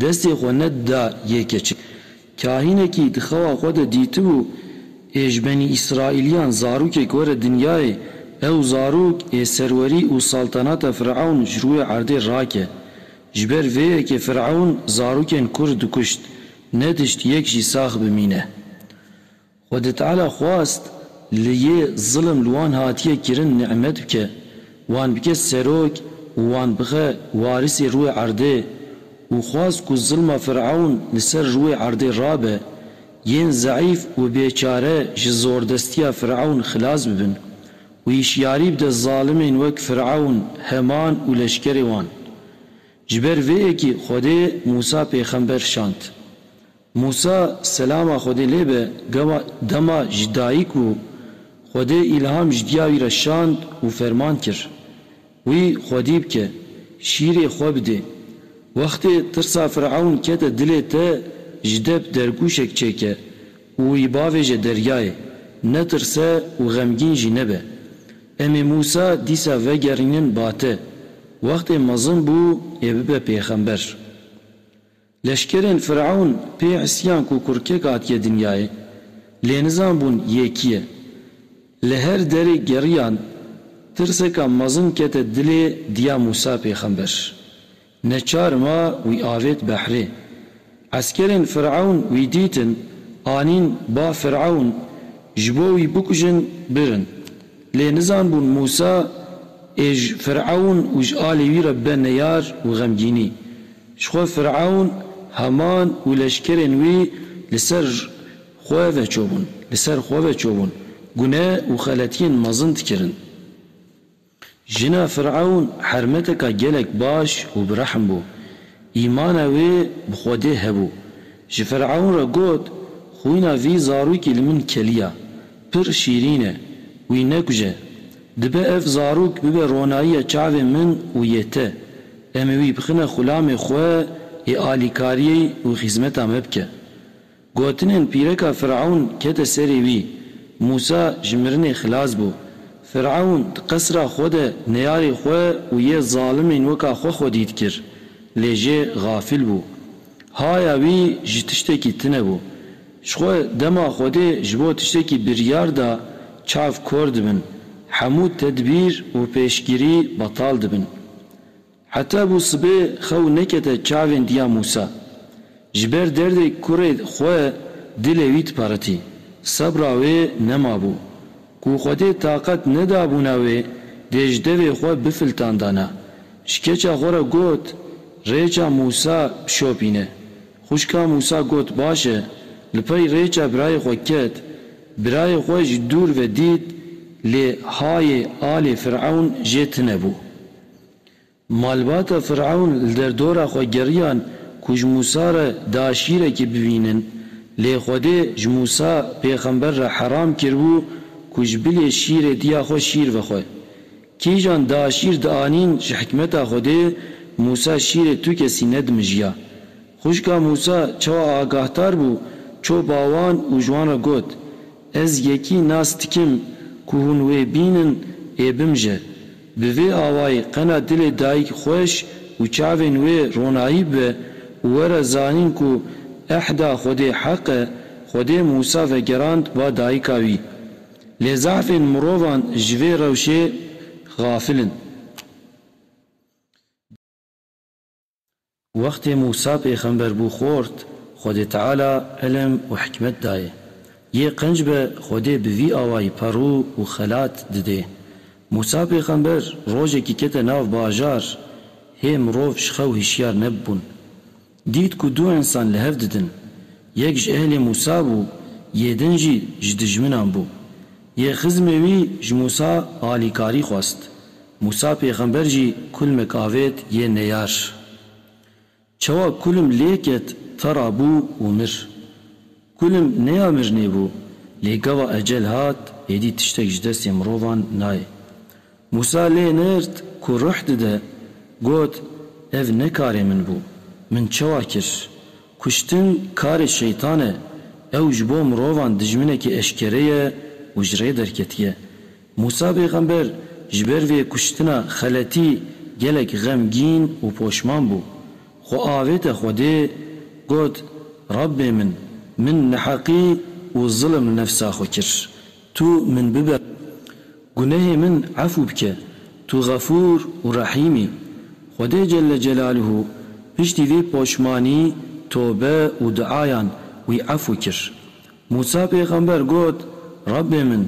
Destê xwe ne da yê keçik. Kahînekî di xewa xwe de dîtibû ê ji benî Îsraîlîyan zarokek were dinyayê, ew zarok ê serwerî û saltanata Firewn ji rûyê erdê rake. Ji ber vê yekê Firewn zarokên kurd dikuşt, ne tişt yek jî sax bimîne. Xwedê Teala xwast li yê zilm li wan hatiye kirin nimet bike, wan bike serok û wan bixe warîsê rûyê erdê û xwast ku zilma Fir'ewn li ser rûyê erdê rabe, yên zeîf û bêçare ji zordestiya Fir'ewn xilas bibin û hişyarî bide zalimên wek Fir'ewn, Heman û leşkerê wan. Ji ber vê yekî Xwedê Mûsa pêxember şand. Mûsa selama Xwedê lê be gewa dema ji dayik bû Xwedê îlham ji diya wî re şand û ferman kir wî xwedî bike şîrê xwe bidê. Wextê tirsa Firewn kete dilê te ji dep dergûşek çêke û wî bavêje deryayê netirse û xemgîn jî nebe. Em ê Mûsa dîsa vegerînin bate wextê mezin bû ê bibe pêxember. Leşkerên Fir'ewn pê îsyan ku kurkek hatiye dinyayê, lê nizan bûn yê kî ye. Li her derê geriyan, tirseka mezin kete dilê diya Mûsa pêxember. Neçar ma wî avêt behrê. Eskerên Fir'ewn wî dîtin, anîn ba Fir'ewn, ji bo wî bikujin birin. Lê nizanbûn Mûsa ê ji Firewn û ji alê wî re bibe neyar û xemgînî. Ji xwe Firewn, Haman û leşkerên wî li ser xwe veçobûn, li ser xwe veçobûn, gune û xeletiyên mezin dikirin. Jina Firewn hermeteka gelek baş û bi rehm bû. Îmana wê bi Xwedê hebû. Ji Firewn re got, Xwîna vî zarokî li min keliya. Pir şîrîn e. Wî nekuje. Dibe ev zarok bibe ronayiya çavê min û yê te. Em ê wî bixine xulamê xwe ê alîkariyê û xîzmeta me bike. Gotinên pîreka Firewn kete serê wî. Mûsa ji mirinê xilas bû. Firewn di qesra xwe de neyarê xwe û yê zalimên weka xwe xwedî dikir. Lê jê gafil bû. Haya wî ji tiştekî tune bû. Ji xwe dema Xwedê ji bo tiştekî biryar da çav kor dibin, hemû tedbîr û pêşgirî betal dibin. Heta bû sibê xew nekete çavên diya Mûsa. Ji ber derdê kurê xwe dilê wî diperitî. Sebra wê nemabû. Ku Xwedê taqet nedabûna wê dê ji devê xwe bifiltandana. Ji keça xwe re got, Rêça Mûsa bişopîne. Xwişka Mûsa got, Baş e. Li pey rêça birayê xwe ket. Birayê xwe ji dûr ve dît lê hayê alê Firewn jê tine bû. Malbata Firewn li derdora xwe geriyan ku ji Mûsa re da şîrekî bibînin. Lê Xwedê ji Mûsa pêxember re heram kiribû ku ji bilê şîrê diya xwe şîr vexwe. Kîjan da şîr dianîn ji hikmeta Xwedê Mûsa şîrê tu kesî nedimijiya. Xwişka Mûsa çawa agahtar bû çopa wan û ji wan re got, Ez yekî nas dikim ku hûn wê bînin ê bimije. Bi vê awayî qena dilê dayîk xweş û çavên wê ronahî bibe û were zanîn ku ehda Xwedê heq e, Xwedê Mûsa vegerand ba dayîka wî. Lê zehfên mirovan ji vê rewşê xafil in. Wextê Mûsa pêxember bû xort, Xwedê Teala îlim û hikmet dayê. Yê qenc be Xwedê bi vî awayî perû û xelat didê. Mûsa pêxember rojekî kete nav bajar, hê mirov ji xew hişyar nebûn. Dît ku du însan li hev didin. Yek ji ehlê Mûsa bû, yê din jî ji dijminan bû. Yê xizmê wî ji Mûsa alîkarî xwest. Mûsa pêxember jî kulmek avêt yê neyar. Çawa kulm lê ket te ra bû û mir. Kulim nêya mirnê bû, lê gava ecel hat, êdî tiştek ji destê mirovan nayê. Mûsa lê nird ku ruh dide, got, Ev ne karê min bû. Min çawa kir? Kuştin karê şeytan e. Ew ji bo mirovan dijminekî eşkere ye û ji rê derketiye. Mûsa pêxember ji ber vê kuştina xeletî gelek xemgîn û poşman bû. Xwe avête Xwedê, got, Rabbê min, min neheqî û zilm nefsa xwe kir. Tu min bibe. Gunehê min efû bike. Tu Xefûr û Rehîm î. Xwedê Celle Celâluhu piştî vê poşmanî, tobe û duayan wî efû kir. Mûsa pêxember got, Rabbê min,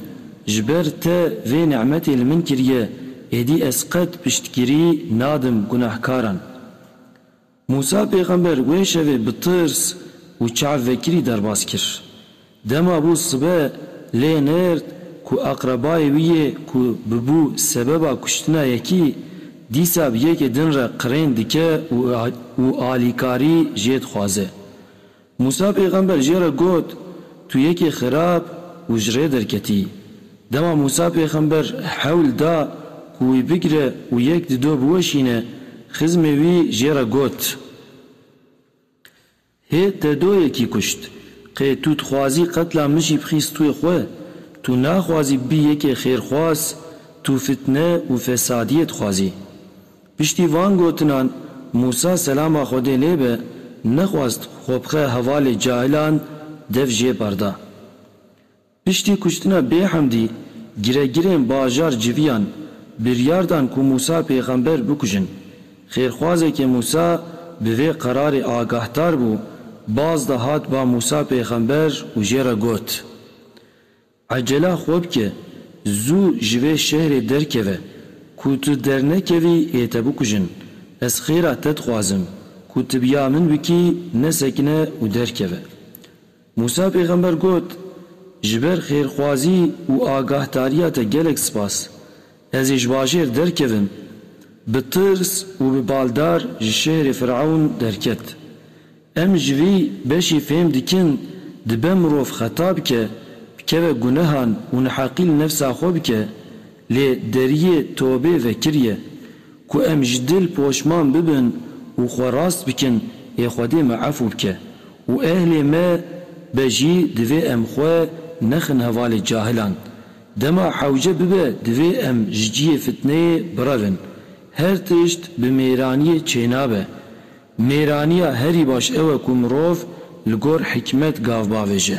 ji ber te vê ni'metê li min kiriye, êdî ez qet piştgirî nadim gunehkaran. Mûsa pêxember wê şevê bi tirs û çav vekirî derbas kir. Dema bû sibe lê nêrd ku aqrebayê wî yê ku bibû sebeba kuştina yekî, dîsa bi yekê din re qirên dike û alîkarî jê dixwaze. Mûsa pêxember jê re got, Tu yekê xirab û ji rê derketî. Dema Mûsa pêxember hewl da ku wî bigire û yek di do biweşîne, xizmê wî jê re got, Hê te do yekî kuşt. Qê tu dixwazî qetla min jî bixî stûyê xwe? Tu naxwazî bibî yekê xêrxwaz, tu fitne û fesadiyê dixwazî. Piştî van gotinan Mûsa selama Xwedê lê be nexwest xwe bixe hevalê cahilan dev jê berda. Piştî kuştina Bêhemdî giregirên bajar civiyan biryar dan ku Mûsa pêxember bikujin. Xêrxwazekê Mûsa bi vê qerarê agahdar bû, baz da hat ba Mûsa pêxember û jê re got, Ecela xwe bike, zû ji vê şehrê derkeve. Ku tu dernekevî ê te bikujin. Ez xêra te dixwazim, ku tu bi ya min bikî nesekine û derkeve. Mûsa pêxember got, Ji ber xêrxwazî û agahdariya te gelek spas. Ez ê ji bajêr derkevim. Bi tirs û bi baldar ji şehrê Firewn derket. Em ji vî beşî fêm dikin dibe mirov xeta bike, bikeve gunehan û neheqî li nefsa xwe bike, lê deriyê tobê vekir ye. Ku em ji dil poşman bibin û xwe rast bikin ê Xwedê me efû bike û ehlê me be jî divê em xwe nexin hevalê cahilan. Dema hewce bibe divê em ji ciyê fitneyê birevin. Her tişt bi mêraniyê çênabe. Mêraniya herî baş ew e ku mirov li gor hikmet gav bavêje.